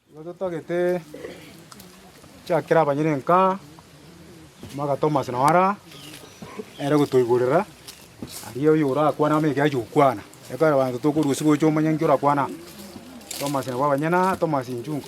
Ekero totagete chiakera abanyerenka, bagatoma ase Noara, ere gotoiborera, aria oyio orakwane amo ekiagera gi'okwana. Ekero abanto tokorwa usiku oche omanye nki orakwane amo. Tomasi nabwo abanyene aa, Tomasi inchunga.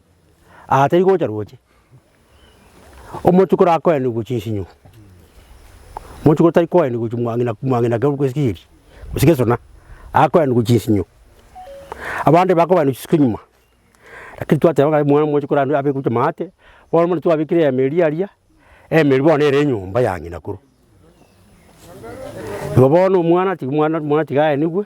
Aa tari gocha roche. Omochukuru akoenigwe chinsinyo, omochukuru tari koenigwe chimwang'ina mwang'ina keru gose chigiri gose gesona, akoenigwe chinsinyo. Abande bakobaenigwe chisuke nyuma, lakini twateba ng'a omwana omochukuru abe abekwe chimabati, bono muna twabekire eyemo eria aria, eyemo eria bono ere enyomba ya ng'ina korwa. Igo bono omwana tiga omwana omwana tiga aenigwe.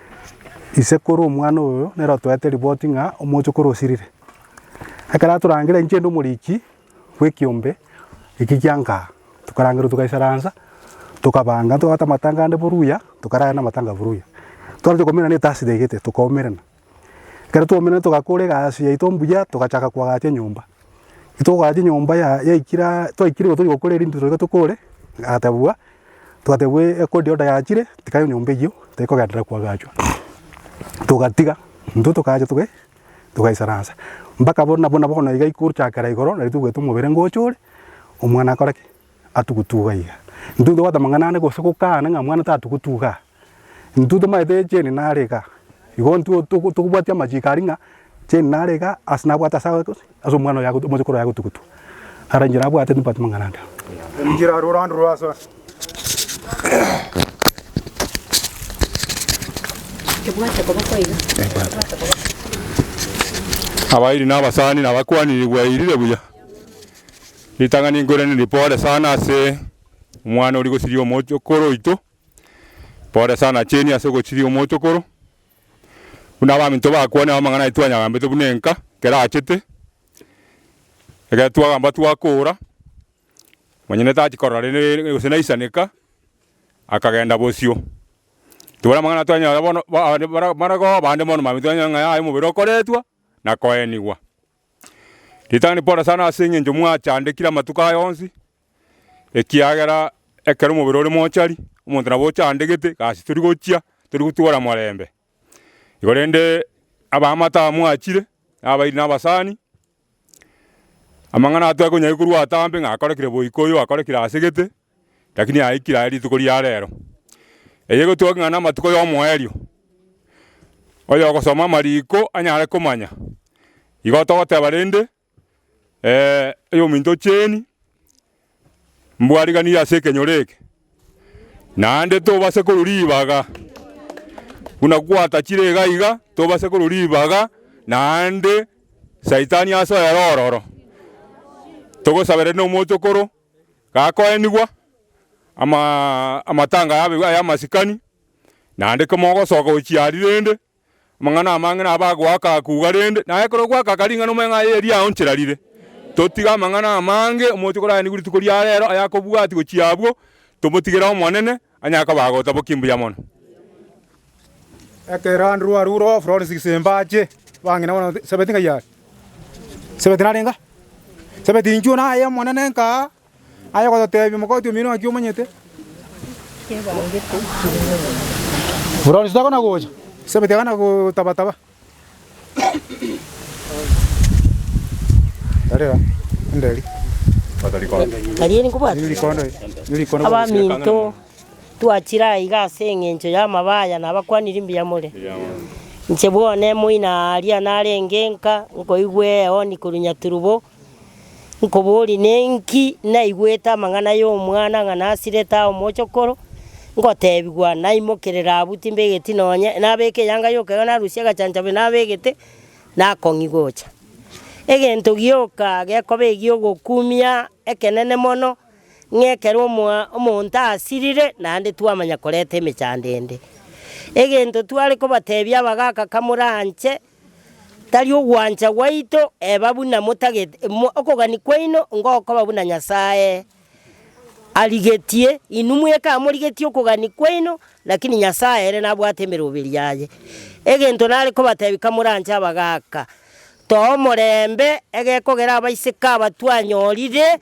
ise kore omwana oyo nere otoete ripoti ng'a omochokoro osirire. Ekero atorangera inche inde omoriki bw'ekiombe eki kia Nkaa, tokarangerwa togaisaransa, tokabanga ntobwate amatanga ande boruya, tokarara namatanga boruya. Twachaka koumerana etasi taigete tokaumerana, ekero twaumeranirie togakora egasi yaito mbuya togachaka koagacha enyomba. Togachia nyomba ya yaikire twaikire igo toria gokora erinde toiba tokore, yatebwa twatebwa ekori order yachire tiga nyomba eywo tekogenderera koagachwa, togatiga intwe tokacha toga togaisaransa mpaka bono nabo nabo bono iga gochakera igoro nari togwete omobere ngocha ore, omwana akore ki? Atugutuga iga. Intwe ntobwate amang'ana ande gose gokana ng'a mwana tatugutuga aa. Intwe tomaete cheni nare iga, igo intwe tokobwatia amachiiko aria ng'a cheni nare iga ase nabwate ase omwana oye omosokoro oye agotugutua. Ara enchera abwate nimbwate amang'ana ande. Abairi na abasani na abakuani nibwairire buya. Ritang'ani nkwerende ripore sana ase omwana oria gose riria omosokoro oito. Pole sana Jane ase ogochiria omochokoro. Buna abaminto bakwanire amang'ana aye twanyagambete buna enka ekero achete. Ekero twagamba twakoora, manya ne tachi korora rende gose naisaneka, akagenda bosio. Tibwari amang'ana twanyora bono abande bara baragoa abande bono mambia twanyora ng'a yaya omobere okoretwa na koenigwa. Ritang'ani pole sana ase eng'encho mwachandekire amatuko aya onsi, ekiagera ekero omobere ore mochari, omonto nabo ochandegete, gasi tori gochia, tori gotwora morembe. Igo rende abaamate aba mwachire, na abairi na abasani, amang'ana atware konya korwa atambe ng'a akorekire boiko oyo akorekire asegete, rakini aikire aye rituko ria rero. Eye egoteba ng'a namatuko y'omoerio, oyogosoma amariko anyare komanya. Igo togoteba rende. oyominto ocheeni, mbwariganirie ase ekenyoro eke, naende tobase korwa ribaga, buna gwatachire iga iga, tobase korwa ribaga, naende saitani asoere ororo. Togosabere na omwochokoro, gakoenigwa, amatanga yabo iga ya amasikani, naende kemo ogosoka ochiari rende. Amang'ana amange nabo agoaka akuga rende, na ekero ogoaka aka ring'ana omanye ng'a aye eria aonchera rire. Totige amang'ana amange omochie koraenigwe rituko ria rero aya akobwati gochia abwo, tomotigere Omonene, onye akoba agotabokia mbuya mono. Ekero Andrew arurwa, Florence Kisemba ache, bang'ina bono Sabeti ng'ai are? Sabeti nare ng'a? Sabeti inchuo naye Omonene nkaa. Aye gototeebia omokoti omiero ng'aki omanyete? Bronze tekona gocha. Isabeti akana gotaba-taba. Tarera, ende eri. Nari eri nkobwate. Niri rikondo, niri rikondo. Abaminto, twachire aiga ase engencho y'amaba aya nabakwanire mbuya more. Inche bwone moina aa aria narenge nka nkoigwe eoni korwa Nyaturubo, Nkoboorie, Ninki naigwete amang'ana y'omwana ng'a nasirete ao mochokoro, ngoteebigwa, Naimokerere abwo, timbegeti nonya, nabeke eyanga y'okegena, narusie agachanchabio nabegete, nakong'i gocha. Egento gioka gekoba egi'ogokumia ekenene mono, ng'a ekero omoa- omonto asirire, naende twamanya koreta emechando ende. Egento tware kobateebia abagaaka kamoranche, Tari ogwancha gwaito, eba buna motagete, okogania kwaino ngokoba buna Nyasae arigetie. Inwe mweka amorigetie okogania kwaino, lakini Nyasae ere nabwate emeroberi yaye. Egento nare kobatebia kamoranche abagaaka, toa omorembe egekogera abaiseke aba twanyorire,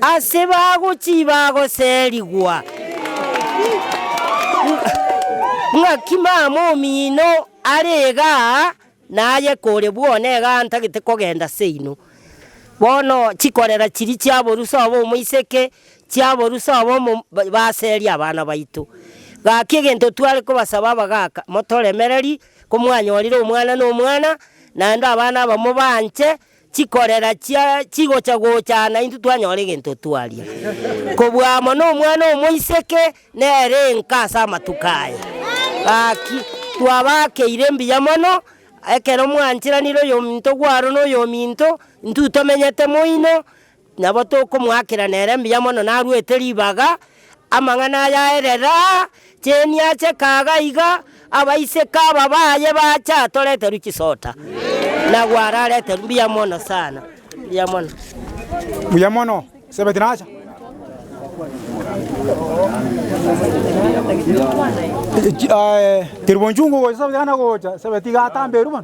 Ase bagochii bagoserigwa, ng'aki mama omino are iga aa, na aye kore bwona iga aa ntagete kogenda ase inwe. Bono chikorera chiria chi'aborusia obo omoiseke, chi'aborusia obo omo- ba- baserie abana baito. Gaki egento tware kobasaba abagaka, motoremererie, komwanyorire omwana nomwana, naende abana aba mobaanche, Chikorera chia chigocha gochana intwe twanyora egento twaria. Kobua amo nomwana omoiseke nere enka ase amatuko aya. Gaki, twabakeire mbuya mono, ekero mwanchiranire oyominto gwaro noyominto, intwe tomenyete moino, Nabo tokomoakera nere mbuya mono narwete ribaga, amang'ana aya aerera chienia chekaaga iga, abaiseke aba baye bacha atoreterwe chisota, na gwarareterwe mbuya mono sana, mbuya mono. Mbuya mono, Sebeti nacha. Tiri bonchungu gocha Sebeti aye nagocha, Sebeti iga atamba eruma.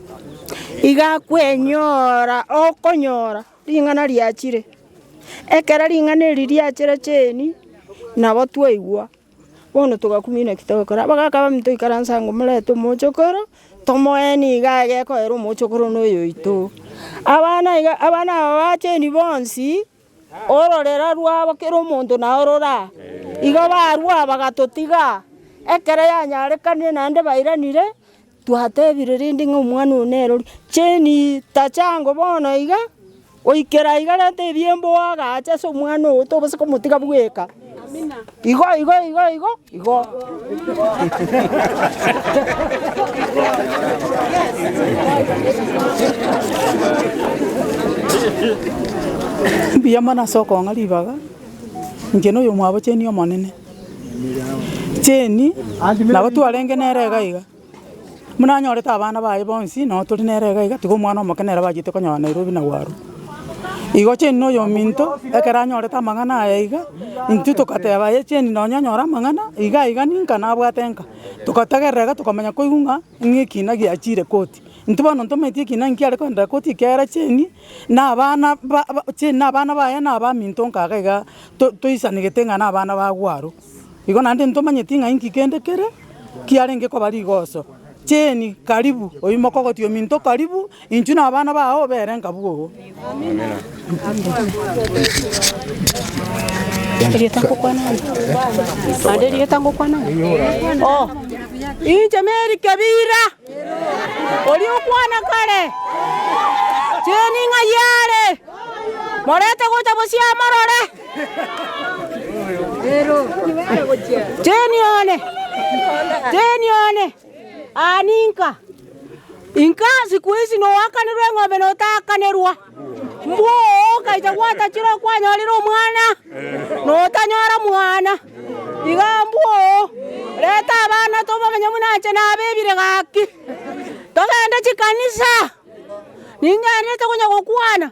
Iga kwenyora okonyora ring'ana riachire. Ekero ring'ana eri riachire cheni, nabo twaigwa, bono togakumia naki togokora. Abwo gakaba omonto oikaranse ango omorete omochokoro, tomoeni iga agekoera omochokoro na oyoito. Abana iga abana aba ba cheni bonsi. Ororera rwabo kera omonto nao rora. Igo barua bagatotiga. Ekero yanyarekanire naende bairanire, twatebire rende ng'a omwana oyo nere oria. Jane tachango bono iga, goikera iga reta ebiembe oagache ase omwana ogo tobasa komotiga bweka. Igo, igo, igo, igo, igo. Mbuya mono ase okong'a ribaga, inche na oyomwabo cheni Omonene. Cheni, nabo twarenge nere iga iga. Buna anyorete abana baye bonsi, nao tori nere iga iga, tiga omwana omoke nere abachete konyora Nairobi na Gwaru. Igo Jane na oyominto ekero anyorete amang'ana aya iga, intwe togateba ye Jane nonye onyore amang'ana iga iga ninka nabwate nka. Togotegerera iga tokomanya koigwa ng'a ng'a ekina giachire koti. Intwe bono ntomanyeti ekina nki are koenderera koti ekiagera Jane na abana ba ba Jane na abana baye na abaminto nka iga iga to toisanegete ng'a na abana ba Gwaru. Igo naende ntomanyeti ng'a inki kende kere kiarenge koba rigoso. Jane, Karibu, oimoke ogotie ominto karibu, inchuo na abana bao obere nkabwo oo. Erieta ngokwana ang'e. Naende erieta ngokwana ang'e. Oh, inche Mary Kebira, oria okwana kare, Jane ng'ai are, morete gocha bosio amorore. Teni one, teni one, aa ninka. Inka siku isi noakanirwe eng'ombe na otaakanerwa. Mbwo okacha gwatachire okwanyorire omwana, na otanyora mwana. Iga mbwo reta abana tobamenye buna inche nabebire gaki. Togende chikanisa, ningenderete konya gokwana.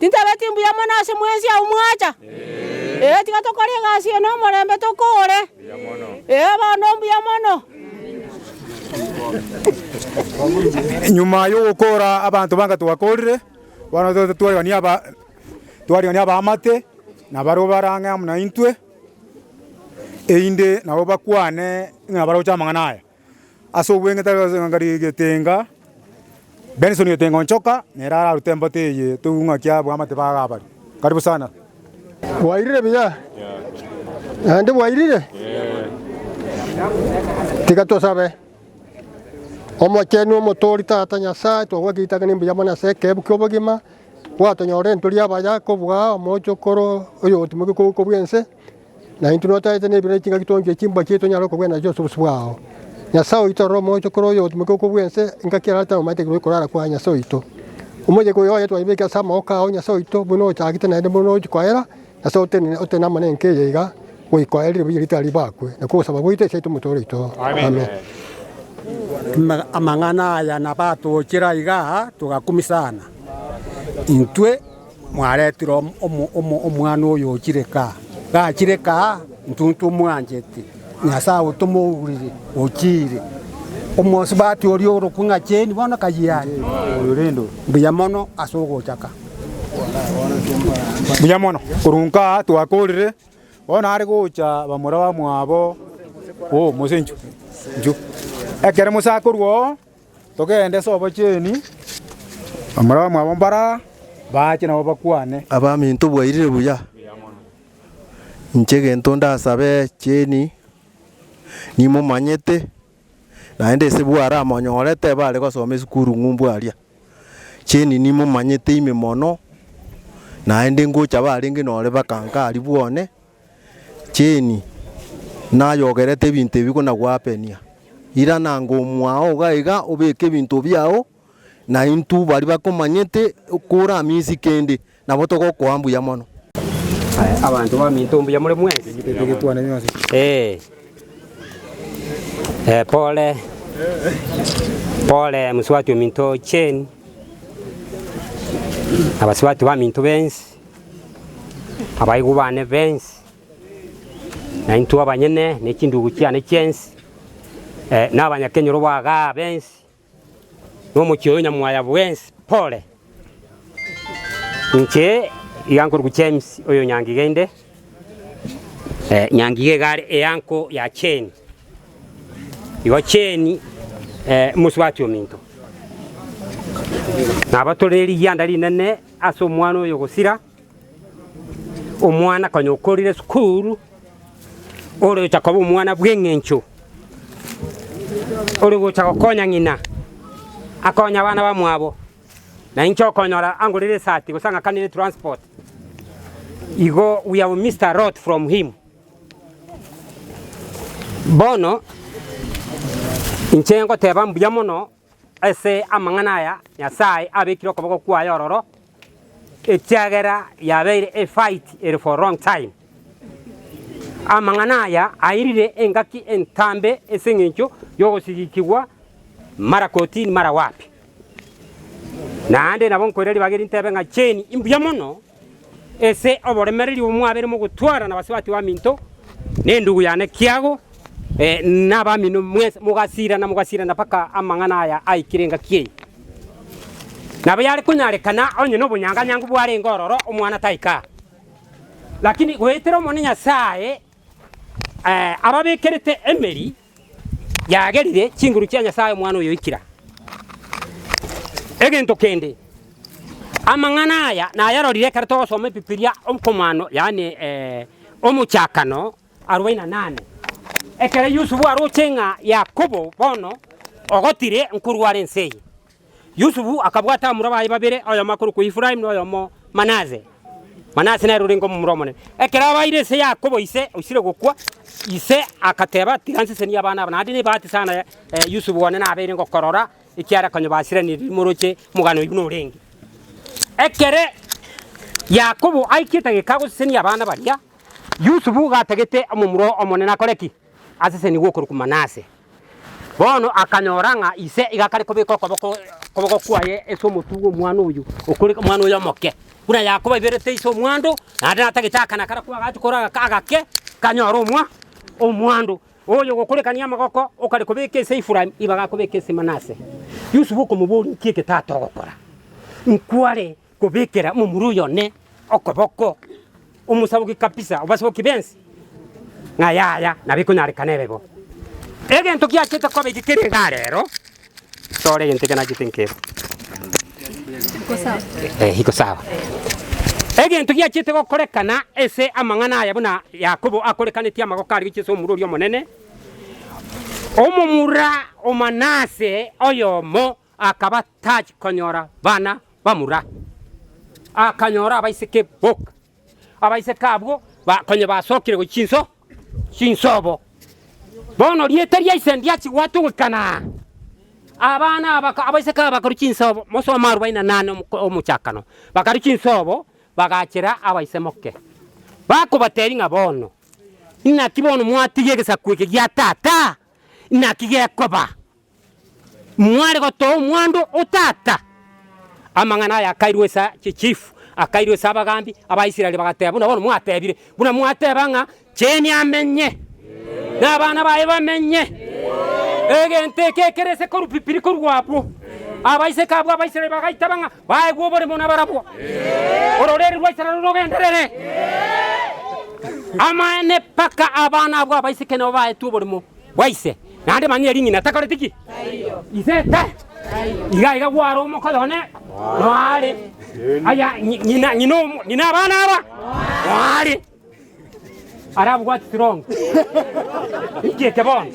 Tintabeti mbuya mono ase mwensi agwo mwacha? Ee, tiga tokore egasi eye nomorembe tokoore. Ee, bono mbuya mono. Nyuma y'ogokoora abanto banga twakoorire, bono toete twarigania aba twarigania abaamate na baria obarang'e amo naintwe, erinde nabo bakwane ng'a baroche amang'ana aya. Ase obweng'iti abe ase getenga, Benson Getenga Onchoka nere ararute embato eye toigwe ng'aki abwamate ba Gabari. Karibu sana. Bwairire buya? Naende bwairire? Tiga tosabe. Omochenu omotoori Tata Nyasae, twagwaka ritakane mbuya mono ase ekeebu ki'obogima, gwatonyorire nturi abaya kobua omochokoro oyo ogotimokia okoguka bw'ense, Na intwe notagete nebiro ne chingaki tonchwe chimboa chiaito onyare okogwena nacho ase obosio bwao. Nyasae oito aroro omogocho kore oyo ogotumeka okwo bwense, engaki erarete amaete igoro y'okorara kwa Nyasae oito. Omoyega oyo oye twaibeke ase amaboko ao, Nyasae oito, buna ochagete naende buna ochia koera, Nyasae otenene, otenene amo nenka eye iga, goikoerire buya ritao ribakwe, nakwo ogosaba gwaito ase Kristo Omotooria oito. Amen. Amang'ana aya nabatoochire aiga togakumisana intwe. Mwaretire omwana oyo ochire kaa. Gachire kaa, intwe ntomoanchete, Nyasae otomourire, ochiire. Omosubati oria orokwe ng'a Jane bono kayia are. Mbuya mono ase ogochaka. Mbuya mono. Korwa nkaa twakorire, bono are gocha bamura bamwabo, Oo, mose inchu, inchu. Ekero mose akorwa oo. Togende ase obochenu, amarabamwa abo mbaro aa baache nabo bakwane. Abaminto bwairire buya, inche gento ndasabe cheni nimomanyete, naende ase bware amonyorete bare gosoma esukuru ng'umbu aria, cheni nimomanyete ime mono, naende ngocha barenge nore baka inga aria bwane. Jane, nayogerete ebinto ebi konagwapenia, irana anga omwao iga iga obeke ebinto biao, na intwe baria bakomanyete koramisi kende, nabo togokoa mbuya mono. Abanto baminto mbuya more mwensi. Ee, pole, pole mosubati ominto Jane, na abasubati baminto bensi. Abaigwa bane bensi, na intwe abanyene, ne chindugu chiane chiensi, eh, na abanyakenyoro b'agaa bensi, na omochie oyo nyamwaya bwensi, pole! Inche iga nkorokwa James oyo Nyangiga inde, eh, Nyangiga iga are eanko ya Jane. Igo Jane, eh, omosubati ominto. Naba tore rigianda rinene. Ase omwana oyo gosira omwana konya okorire sukuru, orocha koba omwana bw'eng'encho, ore gocha gokonya ng'ina, akonye abana bamwabo, na inche okonyora angorere esati gose ang'akanere transport, igo we have missed a lot from him. Bono inche ngoteba mbuya mono Ase amang'ana aya Nyasae abekire okoboko kwaye ororo, ekiagera yabeire a fight ere for long time. Amang'ana aya airire engaki entambe ase engencho yogosigikigwa mara kotini mara wapi. Naende nabo nkoira ribaga erintebe ng'a Jane imbuya mono. Ase oboremereri obo mwabeire mogotwarana gose batio baminto, nendugu yane Tiago, nabamino mwensi, mogasirana, mogasirana mpaka amang'ana aya aikire engaki eye. Nabo yare konyarekana onye nobonyanganyangu bwarenge ororo omwana taika aa, lakini goetera Omonene Nyasae ababekerete emeri. yagerire chinguru chia Nyasae Omwana oyoikire. Egento kende, amang'ana aya nayarorire ekero togosoma Ebibilia okomano, yaani Omochakano arobaini na nane, ekero Yusufu aroche ng'a Yakobo bono ogotire nkorware ense eye. Yusufu akabwata abamura baye babere, oyomo akorokwa Efraimu, na oyomo Manase. Manase nere orenge omomura omonene. Ekero abaire ense Yakobo ise oisire gokwa, ise agateba, Tiga nsesenie abana aba, naende nebahati sana Yusufu one nabeire ngokorora, ekiagera konya basiranirie rimo roche omogano oigo norenge. Ekere Yakobo aikete egeka agosesenia abana baria, Yusufu iga atagete omomura omonene akore ki? aseseni gw'okorokwa Manase. Bono akanyora ng'a ise iga akare kobeka okoboko okoboko kwaye ase omotwe bw'omwana oyio okore omwana oyo omoke. Buna Yakobo aiberete ise omwando, naende natagete akana karia kwagacha kore aga agake, kanyore omwa omwando. Oyo ogokorekania amagoko okare kobeka ise Efraimu, ibaga akobeka ise Manase. Yusufu okomoboria, Inki eke tata ogokora? Nkware Kobekera momura oyone okoboko, omosaboki kabisa obasaboki bense, ng'a yaya nabo ekonyarekana ebe bo. Egento kiachete koba eke kere igaa rero, tore egento eke nachete nkebe. Eh, iko sawa. Egento giachete gokorekana ase amang'ana aya buna Yakobo akorekanetie amagoko aria gochia ase omura oria omonene, omomura o Manase oyomo Akaba tachi konyora bana bamura, akanyora abaiseke boka. Abaiseke abwo ba- konye basokire gochia chinso chinsobo. Bono rieta ria ise ndiachi gwatogekana. Abana aba ka- abaiseke aba bakarwa chinsobo, mosome arobaini na nane omoko- omochakano. Bakarwa chinsobo, bagachera abaise moke, bakobatebia ng'a bono, Inaki bono mwatigia egesaku eke gia tata? Inaki gekoba? Mware gotoa omwando o tata. Amang'ana aya akairwa ase chichifu, akairwa ase abagambi, Abaisraeli bagateba, Buna bono mwatebire, buna mwateba ng'a Jane amenye, na abana baye bamenye, egento eke ekere ase korupipiri korwa abwo. Abaiseke abwo Abaisraeli bagaiteba ng'a Baegwe oborimo nabarabwo, ororeri rwa Israel rogenderere. Amaene mpaka abana abwo abaiseke nabo baetwe oborimo bwa ise, naende manyie ring'ina takoreti ki? Ise ta. Iga iga gware omoka oyone noare. Aya, nyi- nyina, nyina, omo- nyina abana aba noare. arabwate chirongo inki eke bono.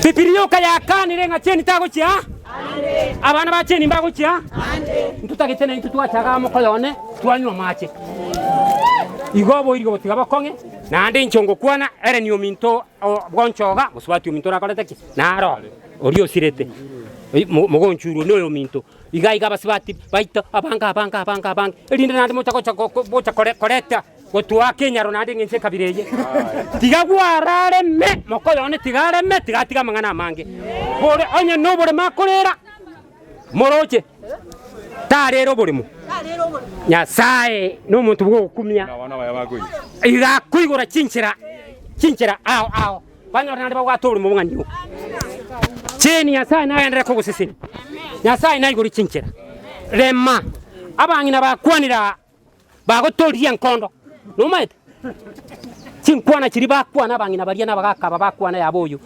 Bibiri yoka yakanire ng'a cheni tagochia ande, abana ba cheni mbagochia ande. Ntotagete naintwe twachaga amo koyo one, twanywa amache. Igo oboiri gogotiga bokong'e, naende inche ngokwana, ere niominto o bwonchoga, mosubati ominto orakorete ki? Naro oria osirete, mogonchurwe noyominto. Iga iga abasibati baito abange, abange, abange, abange, erinde naende moche gocha gocha koreta gotuaa kenyaro naende engencho ekabira eye. Tiga gwarareme moka oyo one tiga areme, tiga atige amang'ana amange. Bore onye noboremo akorera, moroche tarera oboremo. Nyasaye nomonto bw'ogokumia, iga akoigora chinchera chinchera ao ao. Banyore naende babwate oborimo bong'aini oo. Jane, Nyasae nagenderere kogosesenia. Nyasae naigore chinchera. Rema, abang'ina bakwanire aa, bagotoririe enkondo. Nomaete? Chinkwana chiria bakwana abang'ina baria na abagaka aba bakwana yaba oyo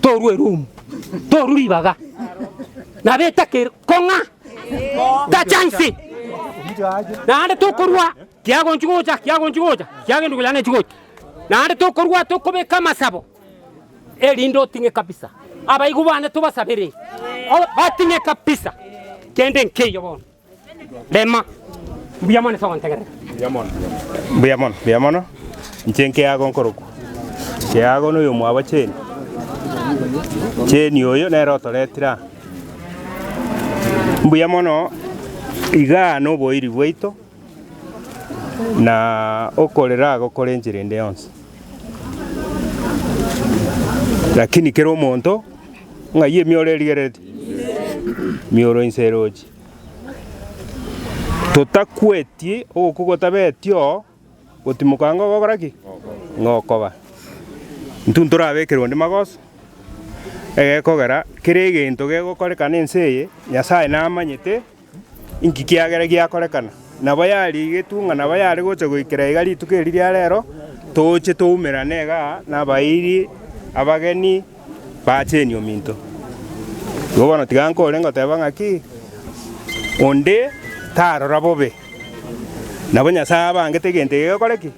torwa erumu, torwa ribaga. Nabo etaka ere kong'a. Tachansi. Naende tokorwa Kiagonchia gocha, kiagonchia gocha, kiagendia koyana echigocha. Naende tokorua tokobeka amasabo, erinde oting'e kabisa. Abaigwa bane tobasabere, o- bating'e kabisa kende nkeiyo bono. Rema. Mbuya mono ase ogontegerera. Mbuya mono, mbuya mono. Inche nkeago nkorokwa Keago na oyomwabo Jane. Jane oyo nere otoretire aa. Mbuya mono igaa noboiri bwaito. na okorera agokora enchera ende yonsi. Lakini kera omonto ng'ai emioro erigerereti, mioro inse erochi. Totakweti ogokwa gotabetio gotimoka ang'e ogokora ki? Ng'okoba. Intwe ntorabekere onde magoso, egekogera kera egento gegokorekana ense eye, Nyasaye namanyete. Inki kiagera giakorekana? Nabo yarigetwe ng'a nabo yare gocha goikera iga rituko eri ria rero, Toche toumerane iga nabairi abageni bacheni ominto. Igo bono tiga nkore ngoteba ng'aki, Onde tarora bobe, nabo Nyasae abangete egento eke gekore ki?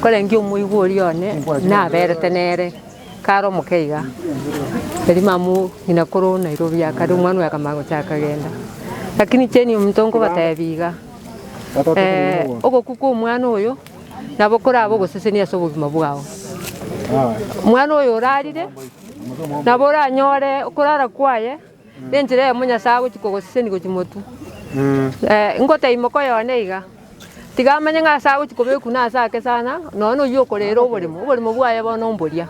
Korende omoigwa oria one naberete nere kare omoke iga, Elimamu ng'ina korwa o Nairobi akare omwana oye akamanya gocha akagenda. Lakini incheni omonto nkobatebia iga, ogokwa kw'omwana oyo nabo korabe ogosesenia ase obogima bwao. Omwana oyo orarire nabo oranyore okorara kwaye. Nenchera eyemo Nyasae agochia kogosesenia gochia motu. Ingotee imoko y'one iga. Tiga amanye ng'a ase agochia kobekwa na ase ake sana, nonya noyio okorera oboremo, oboremo bwaye bono mboria,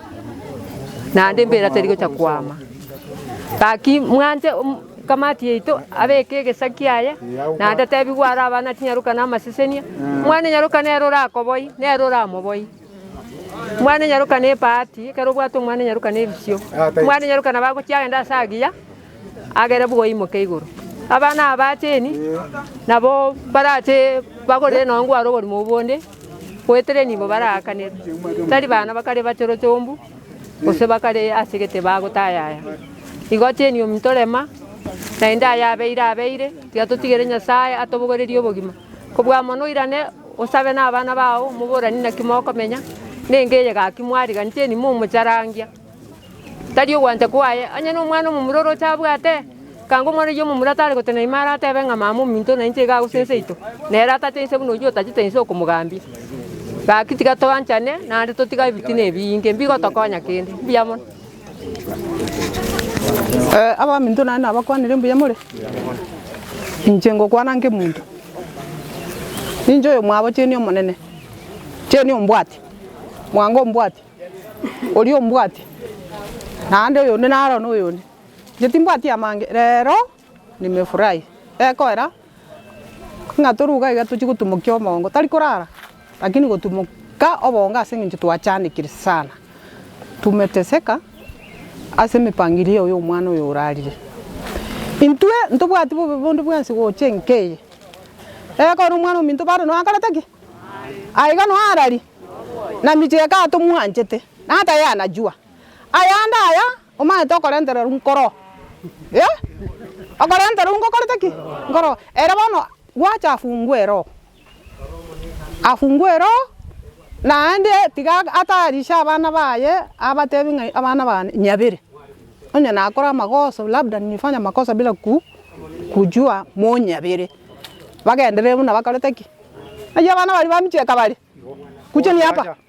naende embeera teri gochia koama. Gaki mwanche kamati yaito abeke egesa kiaye, naende atebi gwaro abana tinyaroka na amasesenia, omwana nyaroka nere orakoboyie, nere oramoboyie. Mwana enyaroka nebahati, ekero obwate omwana enyaroka nebisio. Omwana enyaroka nabo agochia agende ase agiya, agere bwogo aimoke igoro. Abana aba acheni, nabo barache bagorere nonye ngware oborimo obwo bonde, goetera enibo baraakanere. Tari bana bakare bachore chombu, gose bakare ase egete bagotayaya. Igo acheni ominto rema, naende ayabeire abeire, tiga totigere Nyasaye atobogorerie obogima. Kobua amo noirane osabe nabana bao omoborani naki mokomenya, nenge eye gaki mwariganeti enimo omocharangia. Tari ogwancha kwaye, onye nomwana omomura oroche abwate, kanga omwana oyio omomura tare gotenena ime aratebe ng'a mama ominto nainche iga agosa ense yaito, nere atache inse buna oyio otachete inse okomogambia. Gaki tiga toanchane naende totiga ebitina ebiinge mbigotokonya kende. Mbuya mono. Ee, abaminto naye nabakwanire mbuya more. Inche ngokwana nkemonto, ninche oyomwabo cheni Omonene, cheni ombwati, mwango ombwati, oria ombwati, naende oyonde naro noyonde. Inche timbwati amange, rero nimefurahi, egoera Ng'a toruga iga tochie gotumokia omongo tari korara, lakini gotumoka obonge ase eng'encho twachanekire sana. Tumeteseka ase emepangilio eye y'omwana oyo orarire. Intwe ntobwati bobe bonde bwensi gocha enka eye. Ekero omwana ominto bado nonya akorete ki? Aye iga nonya arari, na michie ekatomwanchete, na tayana jua. Ayande aya. Omanyete okorentererwa nkoro? Eh! Okorentererwa ngokorete ki? Nkoro. Ere bono gwacha afungwe eroho, afungwe eroho, naende tiga atayarishe abana baye abatebie ng'a abana bane nyabere, onye nakora amagoso labda nimefanya makosa bila ku kujua monyabere, bagenderere buna bakorete ki? Naki abana baria bamicheka bare, kuja ni hapa.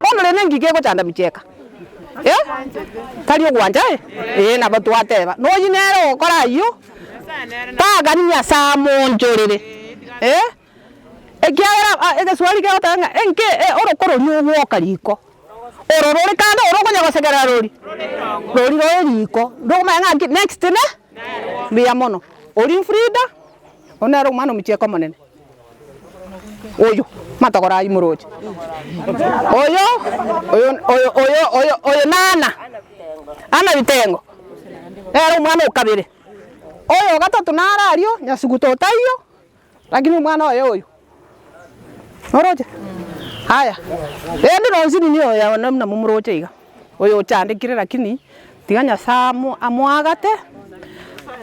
Bono rende ngiki egochanda bicheka, eh, tari ogwancha, eh? Ee, nabo twateba, noyio nere ogokora ayio, tang'ani Nyasae amoonchorere, eh, ekiagera ah, egesuari kegoteba ng'a enki eh, oroko roria ogwoka riko, oro rore kando oro okonya gosegerera rori, rori rore riko, ndokomanya ng'a nki next ne, mbuya mono. Oria Frida, oyio nere omwana omochie eke omonene. Oyo, matogora aywo moroche. Oyo, oyo, oyo, oyo, oyo, oyo na Anna, Anna Bitengo, nere omwana o kabere. Oyo o gatato nare ario, Nyasugu totaiyo, lakini omwana oye oyo. Oroche? Aya, rende nonsi ninyie oyo one buna momoroche iga. Oyo ochandekire lakini tiga Nyasae amoagate,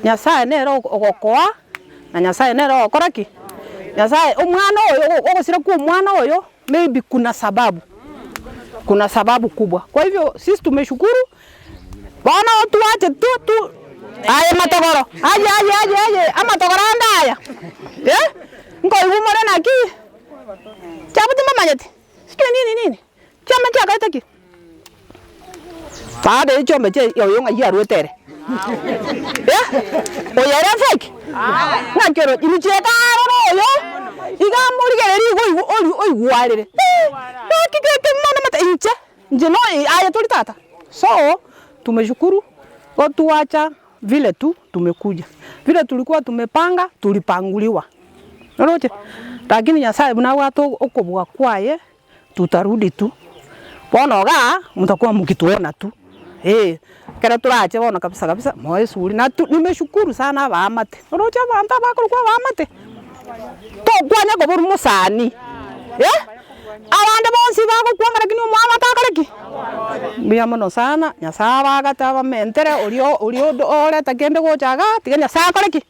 Nyasae nere ogokoa, na Nyasae nere ogokora ki? Nyasae omwana oyo ogosira kwa omwana oyo maybe kuna sababu, kuna sababu kubwa. Kwa hivyo sisi tumeshukuru bono twache tu tu aye matogoro aye aye aye aye amatogoro ande aya eh nkoigwa more naki? Chiabuti mbamanyeti sijui nini nini. Chiombe nchiakerete ki? Baada ya chiombe chia oyo ng'ai aruete ere. Eh? Oyo ere fake? Ng'aki oro ini chieka aroro oyo iga morigereria igo oigwe ori- oigwarire. Eh, naki gete mono mate inche inche no aye tori tata. So, tumeshukuru go twacha vile tu tumekuja. Vile tulikuwa tumepanga tulipanguliwa. Oroche? Lakini Nyasaye buna abwate okobua kwaye tutarudi tu, bono iga motakwamokia twona tu, eeh ekero torache bono kabisa kabisa moe esuguri na tu nimeshukuru sana abaamate, oroche abanto abakorokwa abaamate, tokwane koborwa mosani, eh abande bonsi bagokwanga lakini omwamate akore ki? Mbuya mono sana, Nyasaye abagate abamentere, oria oria oreta kende gocha igaa, tiga Nyasaye akore ki?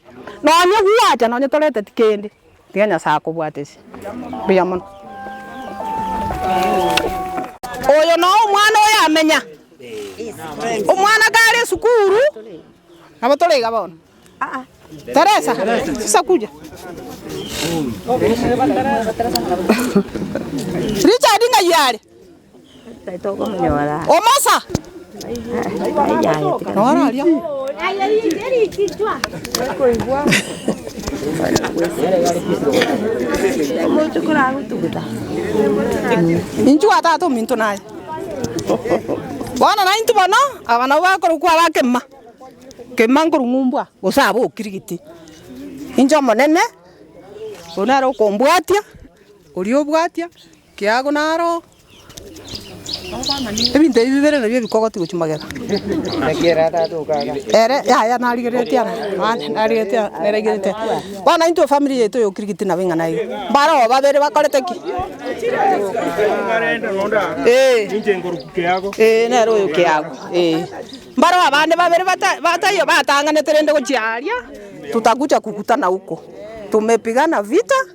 Nonye gwacha nonye toreteti kende, Tiga Nyasae akobwatesie buya mono. Oyo noe omwana oyo amenya. Omwana kare esukuru nabo tore iga bono. Teresa, sasa kuja. Richard ng'ai are? Omosa! Inchuo aa tata ominto naye. Bono nainto bono aba nabo bakorwa kware akema. Kema nkoru ng'umbwa gose aba okirigiti. Inche omonene, oyo nere okombwatia, oria obwatia. Kiago naro ebinto ebi bibere nabio bikogotigwa chimagega. Ere yaya narigereretie ara, mani narigereretie ara, narigereretie ara. Bono intwe efamiri yaito y'okirigiti nabo ing'ana aiga. Mbaroo babere bakorete ki? Ee. Ee nere oyo kiago, ee. Mbaroo abande babere bata bataiyo batang'anete rende gochia aria, tutakuja kukutana huko, tumepigana vita.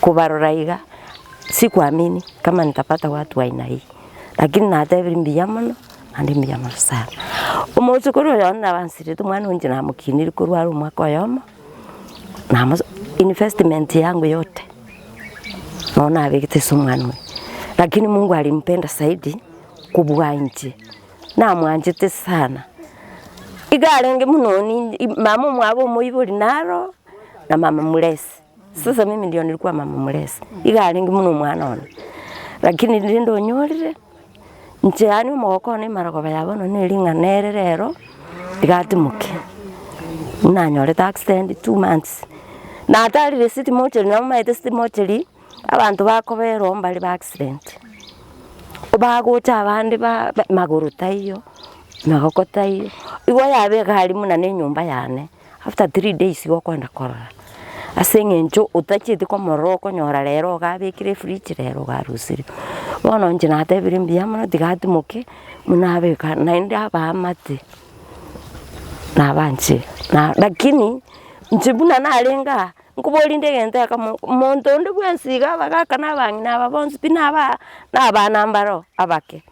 Kobarora iga sikuamini kama nitapata watu wa aina hii, lakini natebire mbuya mono naende mbuya mono sana. Omosokoro oyomo nabo ansirete omwana oyio inche namokinire korwa are omwaka oyomo, namo investment yangu yote nabo nabegete ase omwana oyio, lakini mungu alimpenda zaidi kobua inche, namwanchete sana. Iga arenge buna oninche mama omwabo omoibori naro. na mama muresi. Sasa mimi ndio nilikuwa mama muresi, iga arenge buna omwana one, lakini rende onyorire inche yaani omogoko one emaragaba ya bono ne ring'ana ere rero rigatimoke. Buna nyorete accident two months, na tari receipt mocheri nabo maete city mocheri, abanto bakoberwa mbare ba accident, bagocha abande ba magoro taiyo, magoko taiyo, igo yaba egari buna ne enyomba yane. after three days igo okoenda korora, ase eng'encho otachieti komorora okonyora rero iga abekire efridge rero iga arosirie. Bono inche natebire mbuya mono tiga atimoke buna abeka naende abaa amate nabanche na lakini inche buna narenge aa, nkoborie rende egento ekemo monto onde bwensi iga abagaka na abang'ina aba bonsi pi naba nabana mbaro abake.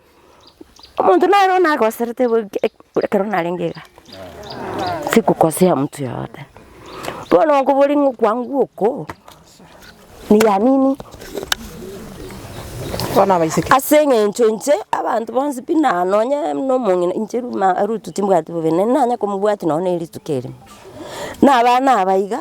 Omonto naro nagoserete bo eke- eke- ekero narenge iga, sikokosea mtu yeyote. Bono okoboria ng'a okwangu oko niya nini? Ase eng'encho inche abanto bonsi pi na nonye buna omong'ina inche ruma ruto timbwati bobeni, naende nanye komobwati nonye ne rituko erimo, na abana aba iga.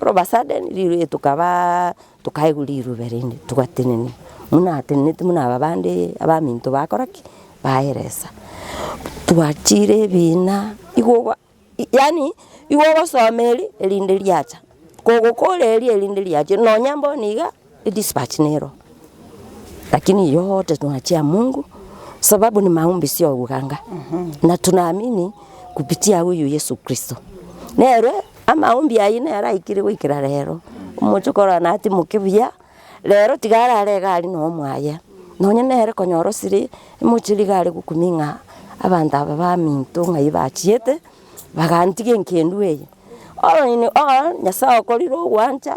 All of a sudden rirwe tokabaa tokaigwa rirube rende togwatenena, buna atenenete buna aba bande abaminto bakora ki? baeresa. Twachire ebina igo ogo yaani igo ogosoma eri erinde riacha, kogokoria eri erinde riache nonya bono iga. Edispatch nero, lakini yote tunachia Mungu sababu ni maombi sio uganga na tunaamini kupitia huyu Yesu Kristo. Nere amaombi ayio nere aikire goikera rero. Omochie korora natimoke buya, rero tiga arare iga aria no mwaye. Nonye nere konyora osire emochie iga are gokuming'a abanto aba baminto ng'ai bachiete bagantiga enkendwa eye. Oino oo Nyasaye okorire ogwancha.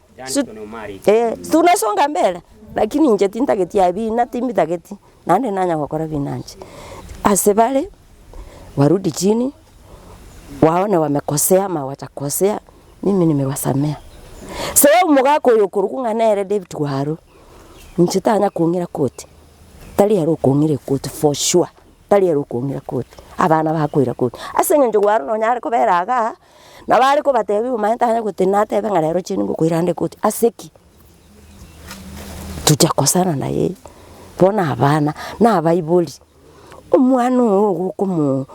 Su- ee, tunasonga mbere, lakini inche tintageti aye bina timbitageti, naende nanya gokora bina inche. Ase bare, warudi chini, waone wamekosea ama wacha kosea, mimi nimewasamea. Se omogaka oyo okorokwa ng'a nere David Waru, inche tanya kong'ira koti, tari ere okong'ira ekoti for sure, tari ere okong'ira koti, abana bakoira koti, as'engencho Waru nonyare kobera igaa. Nabo are kobatebia omonyene tare goteba ng'a natebe ng'a rero chieri ngokoirande koti ase ki? Tocha kosana naye bono abana na abaibori, omwana ogo nigo okomo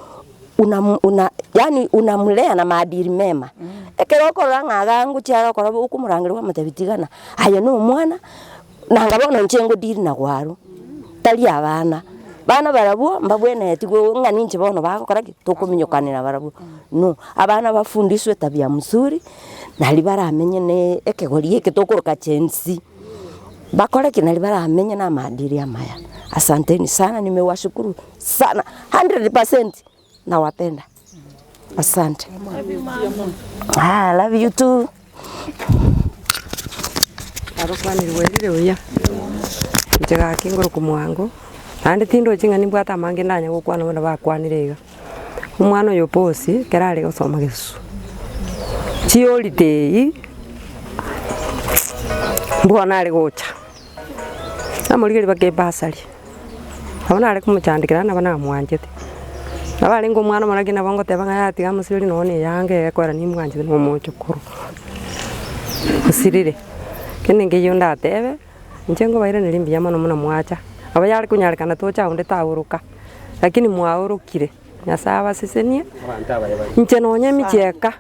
una una yaani unamulea na maadili mema, ekero okorora ng'a iga ngochi are okoraba okomorangeria omotebi tigana, aye na omwana. Nanga bono inche ngo deal na gwaro, tari abana, bana barabwo mbabwenereti gwo ng'a ninche bono bagokora ki? tokominyokanera barabwo, no abana bafundiswe tabia msuri, nari baramenye na ekegori eke tokoroka gen z, bakore ki? Nari baramenye na amaadili amaya. Asanteni sana nimewashukuru sana hundred percent. Nawapenda. Asante. Haa I love you too. Inche gaki ngoroku mwango naende tindoche ng'a nimbwate amange ndanya gokwana bono bakwanire iga. Omwana oyo bosi ekero are gosoma gesusu, chiholiday bono nare gocha. Namorigereria mpaka ebasari, nabo nare komochandekera nabo namwanchete. Nabo arenge omwana omoro naki nabo ngoteba ng'a yatiga amo siriri nonye na eyanga eye ekorera nimwanchete na omochokoro. Osirire, kende nkeiyo ndatebe, inche nkobairaneri mbuya mono buna mwacha. Nabo yare konyarekana tocha onde taoroka, lakini mwaorokire, Nyasaye abasesenie, inche nonye emicheka.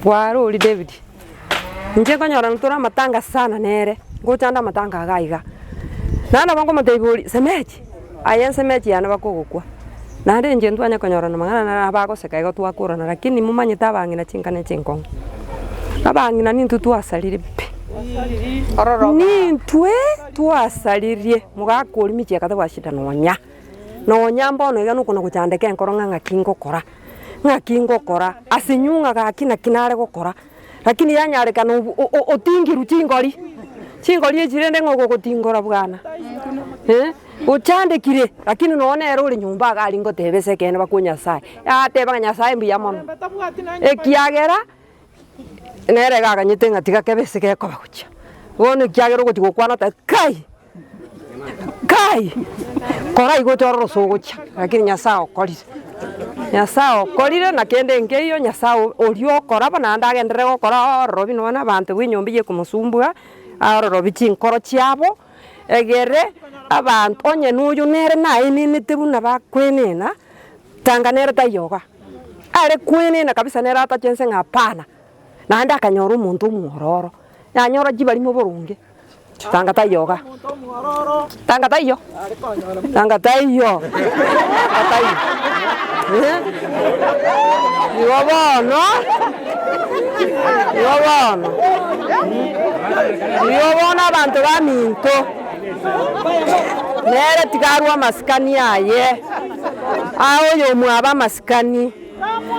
Bwarori David, Inche nkonyorana tore amatanga sana nere, ngochanda amatanga iga iga. Naende nabo nkomotebi oria, Semeji, aye ensemeji yane bakogokwa. Naende inche ntwanye konyorana amang'ana nere abagoseka igo twakorana lakini momanyete abang'ina chinka ne chinkong'u. Abang'ina nintwe twasaririe pi. Nintwe twasaririe, mogaka oria michie akateba shida nonya. Nonya mbono iga nokona gochandeka enkoro ng'a ng'aki ngokora. ng'aki ngokora, ase nyung'a gaki naki nare gokora, rakini yanyarekana obu o- o- otingirwe chingori, chingori echi rende ng'a ogogotingora bwana eh, ochandekire rakini nonya nere ore nyomba iga aria ngoteba ase ekeene bakwo Nyasaye, yateba ng'a Nyasaye mbuya mono, ekiagera nere iga aganyete ng'a tiga kebe ase gekoba gochia, bono ekiagera ogochi gokwana oteba kai, Kai, koraigwete ore oroso ogochia, rakini Nyasae okorire. Nyasae okorire na kende nkeiyo Nyasae o- oria okora bono naende agenderere gokora ororobi nonya na abanto bw'enyomba eyio ekomosumbua, arorobi chinkoro chiabo, egere abant onye na oyo nere naenenete buna bakwenena, tanga nere taiyo iga, are kwenena kabisa nere atachense ng'a hapana, naende akanyora omonto omwororo, yanyora chibarimo boronge. Tanga taiyo iga. Tanga taiyo. Tanga taiyo. Tanga taiyo. Eh? Igo bono. Igo bono. Igo bono abanto baminto. Nere tiga arue amasikani aye. Aye oyo omwabe amasikani.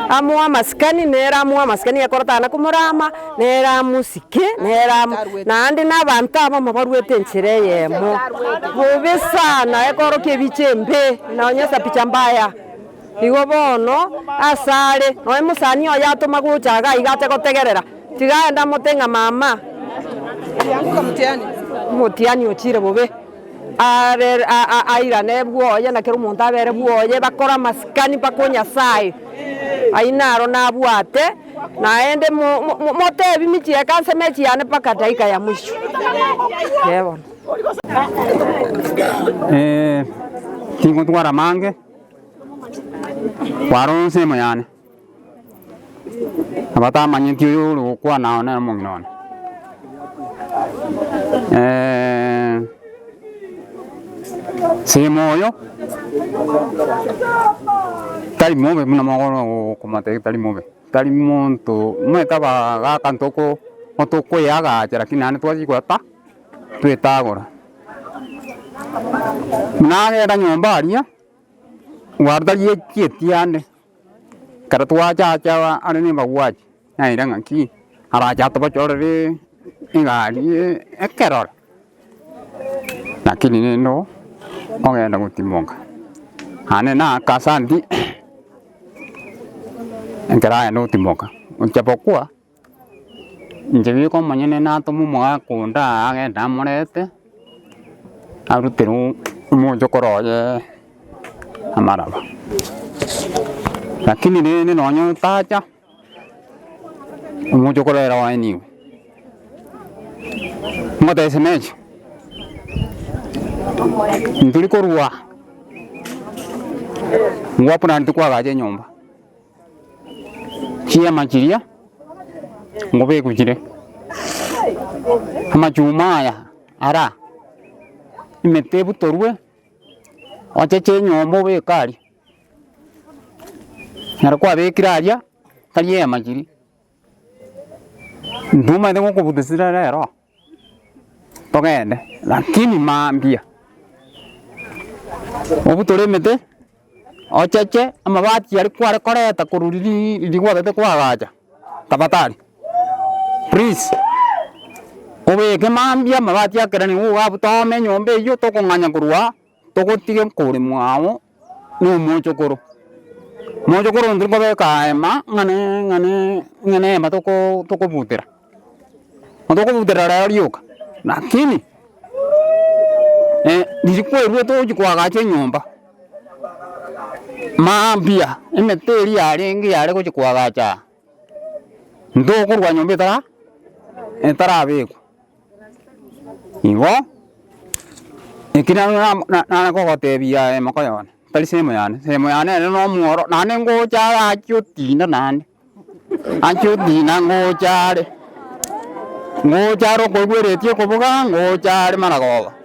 Amoamasikani nere amoamasikani ekorotana komorama nere amosike nere amo naende na abanto abamo baruete enchera eyemo bobe sana ekorokia ebiche embe nonye esapicha mbaya igo bono ase are nonye mosani oye atoma gocha iga iga ache gotegerera tiga aende amote ng'a mama omotiani ochire bobe. Abere airane bwoye na kera omonto abere bwoye, bakore amasikani mpaka o Nyasae ayio naro nabwate, naende motebi michie ekansa emechi yane mpaka edaika ya mwisho. Ee bono. Ee, tingontwara amange, kwara ensemo yane. Abatamanyeti oyo ore gokwana ao nere omong'ina one. Semo oyo tari mobe buna mogoro okomotebia ng'a tari mobe, tari monto omanyete aba gaka ntoko tokoeagacha lakini naende twachia koba ta twetagora. Buna agenda nyomba aria. Gwarutagia ki ekiagera ekero twachacha are ne embaguachi naende ng'aki arache atobochorere egari ekerore lakini rende oo ogenda gotimoka naende na aka asante ekero agenda gotimoka ocha bokwa. Inche biko omonyene natome omogaka onde aa agende amorete, aruterwe omochokoro oye amaraba. Lakini rende nonye otacha, omochokoro ere oye nigo. Ngotebia shemeji, intwe rikorwa aa, ngwakuraneti kwagacha enyomba, Chiema chiria ngobeguchire, amachuma aya ara emete ebutorwe, ocheche enyomba obeke aria. Ekero kwabekire aria, tari eema chiria, intwe omanyete ngokobutesera rero. Togende, lakini mambia obutore emete, ocheche amabati aria kware koreta korwa riria riria kwagete kwagacha, tafadhali please obeke mambia amabati akereni nigo ogabutoome enyomba eywo tokong'anya korwa. Togotiga nkoremwa agwo nomochokoro, mochokoro oyo tirikobeka hema ng'ane ng'ane ng'ane hema tokobutera, tokobutera rero rioka lakini rituko erio togochia koagacha enyomba mambia emete eria yarenge yare gochia koagacha. Ntokorwa nyomba etara etarabekwa, igo eki na- na- na- nare gogotebia aye mokoyo one, tari sehemu yane, sehemu yane ere na omworo, naende ngocha are achia otina naende, achia otina ngocha are, ngocha are okoigweretie okoboga, ngocha are maragoba.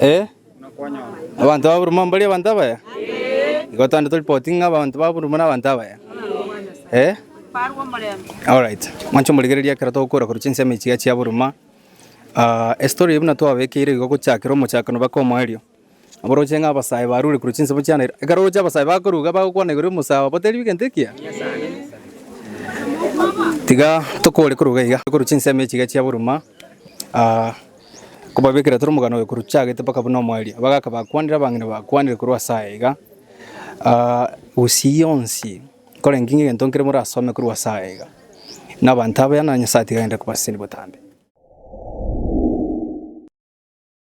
Ee, abanto ba Buruma mbari abanto abaya? Igo twande toripotinge ng'a abanto ba Buruma nabanto abaya? Ee? Alright, mwanche omorigereria ekero togokora korwa chinsemo echiga chia Buruma, ah, estory eyio buna twabekeire igo gochakera omochakano baka omoerio. Aboroche ng'a abasae barure korwa chinsemo chia Nairobi, ekero oroche abasae bakoruga bagokwana igoro y'omosae obo teribia egento ekiya? Tiga tokore koruga iga korwa chinsemo echiga chia Buruma, ah. Kobabekera toro omogano oyo korwa chagete mpaka buna omwaria, bagaka bakwanire abang'ina bakwanire korwa ase aya iga, gusii yonsi nkorenge ng'a egento nkere morasome korwa ase aya iga, na abanto abaya na Nyasaye atiga aende kobasesenia botambe.